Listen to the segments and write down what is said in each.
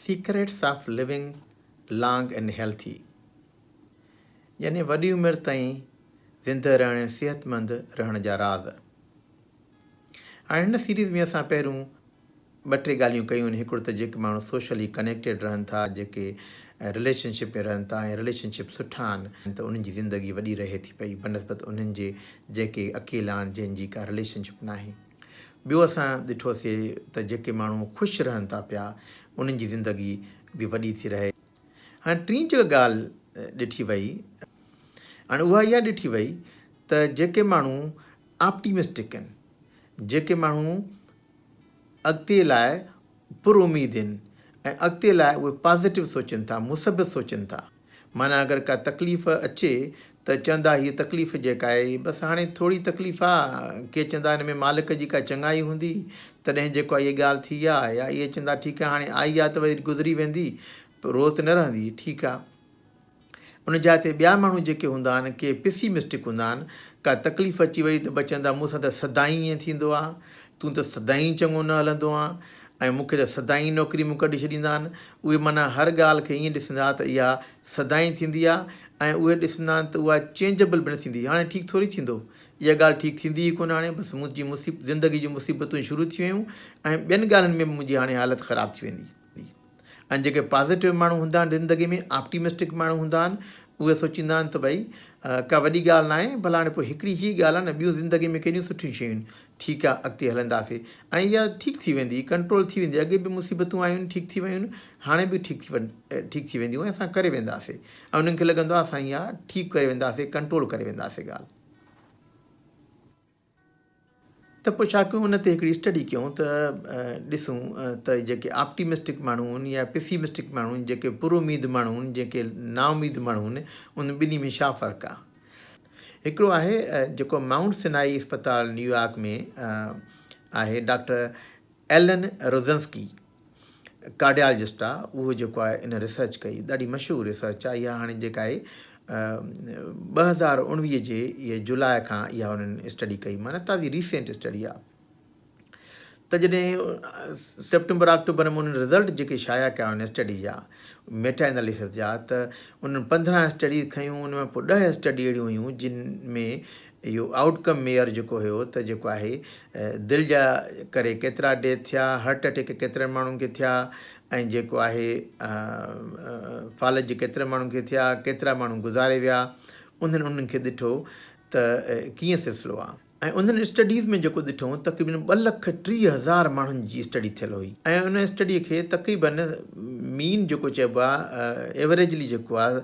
Secrets of living long and healthy يعني وڏي عمر تائين زندهه رهڻ ۽ صحتمند رهڻ جا راز. هاڻي هن سيريز ۾ اسان پهريون ٻه ٽي ڳالهيون ڪيون آهن هڪڙو ته جيڪي ماڻهو سوشلي ڪنيڪٽيڊ رهن ٿا جيڪي رليشن شپ ۾ رهن ٿا ۽ رليشن شپ سٺا آهن ته انهن جي زندگي وڏي رهي ٿي پئي بنسبت انهن جي جيڪي اڪيلا آهن جنهن جي ڪا رليشن شپ ناهي. ٻيو اسان ڏٺوسي ته جيڪي ماڻهو خوش رهن ٿا پيا انهن جي زندگي به وڏي ٿي رهي. هاڻي ٽين جيڪا ڳالهه ڏٺي وئي هاڻي اها اها ڏٺي وئي ته جيڪي ماڻهو آپٽيمسٽڪ آهن جيڪي ماڻهو اڳتي لاء پر اميد آهن ۽ اڳتي لاء اهي پازيٽو سوچين ٿا، مثبت سوچين ٿا. معنيٰ اگر ڪا تڪليف اچي ته چوندا هيء تڪليف جيڪا آهي هي بس هاڻي ٿوري تڪليف آ، ڪي چوندا هن ۾ مالڪ جي ڪا چڱائي هوندي تڏهن جيڪو آهي هيء ڳالهه ٿي آ يا اهي چوندا ٺيڪ آهي هاڻي آئي آ ته وري گذري ويندي روز ته نه رهندي، ٺيڪ آ. ان جاء تي ٻيا ماڻهو جيڪي هوندا آهن ڪي پسي مسٽڪ هوندا آهن ڪا تڪليف اچي وئي ته به چوندا مون سان ته سدائين ائين ٿيندو آهي تون ته سدائين چڱو نه هلندو آهين ۽ مون کي ته سدائين نوڪري مون ڪڍي ڇڏيندا آهن اهي معنيٰ هر ڳالهه کي ائين ڏسندا ته اها سدائين ٿيندي آهي ۽ اهي ڏسندا آهن ته اها چينجبل به نه ٿيندي هاڻي ٺيڪ ٿوري ٿيندو اها ڳالهه ٺيڪ ٿيندي ئي ڪونه هاڻي بس منهنجي زندگي جون مصيبتون شروع ٿي ويون ۽ ٻين ڳالهين ۾ به منهنجي هاڻي حالت خراب ٿي ويندي ۽ جيڪي پازيٽو ماڻهو هوندا آهن زندگي ۾ آپٽيمسٽڪ ماڻهو هوندا آهن اهي سوچيندا آهن ته ڀئي ڪا وڏي ڳالهه ناهي ڀلا هاڻي پوء هڪڙي هي ڳالهه آهي نه ٻيون زندگي ۾ ڪهڙيون سٺيون شيون آهن ٺيڪ آهي اڳتي هلنداسي ۽ اها ٺيڪ ٿي ويندي ڪنٽرول ٿي ويندي اڳي به مصيبتون آيون ٺيڪ ٿي ويون هاڻي به ٺيڪ ٿي ٺيڪ ٿي وينديون اسان ڪري وينداسي ۽ انهن کي لڳندو آهي اسان اها ٺيڪ ڪري وينداسي ڪنٽرول ڪري وينداسي ڳالهه ته پوء ڇا ڪيون ان تي هڪڙي اسٽڊي ڪيون ته ڏسون ته جيڪي آپٽيمسٽڪ ماڻهو هون يا پيسيمسٽڪ ماڻهو هون جيڪي پراميد ماڻهو هون جيڪي نااميد ماڻهو هون انهن ٻنهي ۾ ڇا فرق آ هڪڙو آهي جيڪو مائونٽ سنائي اسپتال نيويارڪ ۾ آهي ڊاڪٽر ايلن روزنسڪي ڪارڊيالجسٽ آ اهو جيڪو آهي ان ريسرچ ڪئي ڏاڍي مشهور ريسرچ آ اها هاڻي جيڪا آهي ٻه هزار اوڻويهه جي اهي جولاء کان اها انهن اسٽڊي ڪئي معنی تازي ريسنٽ اسٽڊي آ ته جڏهن سيپٽمبر آڪٽوبر ۾ انهن رزلٽ جيڪي شايع ڪيا ان اسٽڊي جا ميٽا اناليسس جا ته انهن پندرهن اسٽڊيز کنيون ان ۾ پوء ڏهه اسٽڊي اهڙيون هيون جن ۾ اهو آئوٽ ڪم ميئر جيڪو هيو ته جيڪو آهي دل جا ڪري ڪيترا ڊيٿ ٿيا هرٽ اٽيڪ ڪيترن ماڻهن کي ٿيا ۽ جيڪو آهي فالج ڪيترن ماڻهن کي ٿيا ڪيترا ماڻهو گذاري ويا انهن انهن کي ڏٺو ته ڪيئن سلسلو آهي ۽ انهن اسٽڊيز ۾ جيڪو ڏٺو تقريبن ٻه لک ٽيهه هزار ماڻهن جي اسٽڊي ٿيل هئي ۽ ان اسٽڊي کي تقريبن مين جيڪو چئبو آهي ايوريجلي جيڪو آهي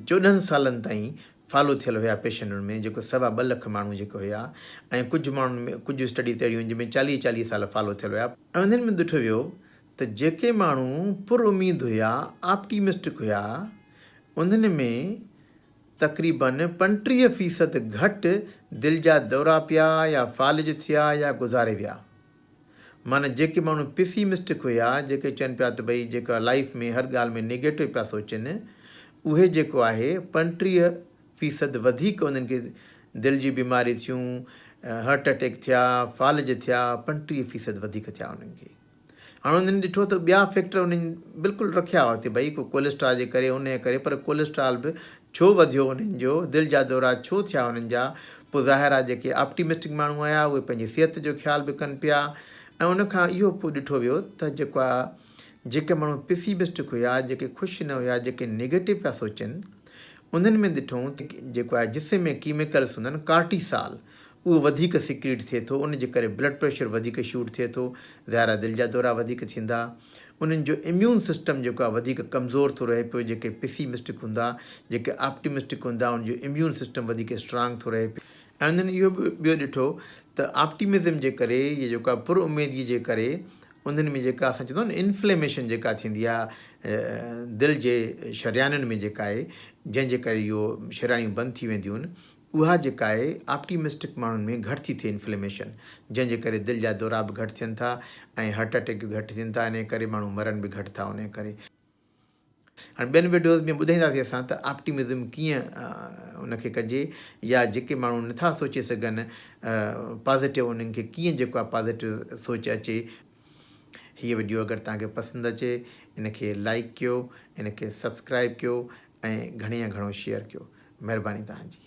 چوڏهن سالن تائين فالو ٿيل هيا پيشنٽن ۾ جيڪو سوا ٻه لک ماڻهو جيڪي هيا ۽ ڪجهه ماڻهن ۾ ڪجهه اسٽڊيز اهڙيون آهن جن ۾ چاليهه چاليهه سال فالو ٿيل هيا ۽ انهن ۾ ڏٺو ويو ته جيڪي ماڻهو پر اميد هيا Optimistic هيا انهن ۾ تقريباً پنٽيهه فيصد گهٽ دل جا دورا پيا يا فالج ٿيا يا گذاري ويا. معنيٰ جيڪي ماڻهو پيسيمسٽڪ هيا، جيڪي چون پيا ته ڀئي جيڪا لائيف ۾ هر ڳالهه ۾ نيگيٽو پيا سوچين، اهي جيڪو آهي پنٽيهه فيصد وڌيڪ انهن کي دل جون بيماريون ٿيون، هرٽ اٽيڪ ٿيا، فالج ٿيا، پنٽيهه فيصد وڌيڪ ٿيا انهن کي. هاڻ انهن ڏٺو ته ٻيا فيڪٽر انهن بلڪل رکيا هئا ته ڀئي ڪو ڪوليسٽرا جي ڪري انهيء ڪري پر ڪوليسٽرال به ڇو وڌيو انهن جو؟ دل جا دورا ڇو ٿيا انهن جا؟ پوء ظاهر آهي جيڪي آپٽيمسٽڪ ماڻهو هيا اهي پنهنجي صحت جو خيال به ڪن پيا ۽ ان کان اهو پوء ڏٺو ويو ته جيڪا جيڪي ماڻهو پيسيمسٽڪ هيا جيڪي خوش نه هيا جيڪي نيگيٽو پيا سوچن انهن ۾ ڏٺون ته جيڪو آهي جسم ۾ ڪيميڪلس هوندا آهن ڪارٽيسال اهو وڌيڪ سيڪريٽ ٿئي ٿو ان جي ڪري بلڊ پريشر وڌيڪ شوٽ ٿئي ٿو ظاهر آهي دل جا دورا وڌيڪ ٿيندا. انهن جو اميون سسٽم جيڪو آهي وڌيڪ ڪمزور ٿو رهي پيو جيڪي پيسي مسٽڪ هوندا جيڪي آپٽي مسٽڪ هوندا ان جو اميون سسٽم وڌيڪ اسٽرانگ ٿو رهي پيو ۽ انهن اهو به ٻيو ڏٺو ته آپٽيمزم جي ڪري يا جيڪو آهي پر اميدگي جي ڪري انهن ۾ جيڪا اسان چوندا آهيون انفليميشن جيڪا ٿيندي آهي دل جي شريانن ۾ جيڪا آهي جنهن جي ڪري اهو شريانيون بند ٿي وينديون آهن اها جيڪاهي آپٽيمسٽڪ ماڻهن ۾ گهٽ ٿي ٿئي انفليميشن جنهن جي ڪري دل جا دورا به گهٽ ٿين ٿا ۽ هرٽ اٽيڪ به گهٽ ٿين ٿا انهي ڪري ماڻهو مرن به گهٽ ٿا انهي ڪري هاڻي ٻين وڊيوز ۾ ٻڌائينداسي اسان ته آپٽيمزم ڪيئن ان کي ڪجي يا جيڪي ماڻهو نٿا سوچي سگهن پازيٽو انهن کي ڪيئن جيڪو آهي پازيٽو سوچ اچي هي وڊيو اگر توهان کي پسند اچي ان کي لائڪ ڪيو ان کي سبسڪرائب ڪيو ۽ گهڻي يا گهڻو شيئر ڪيو مهرباني توهان جي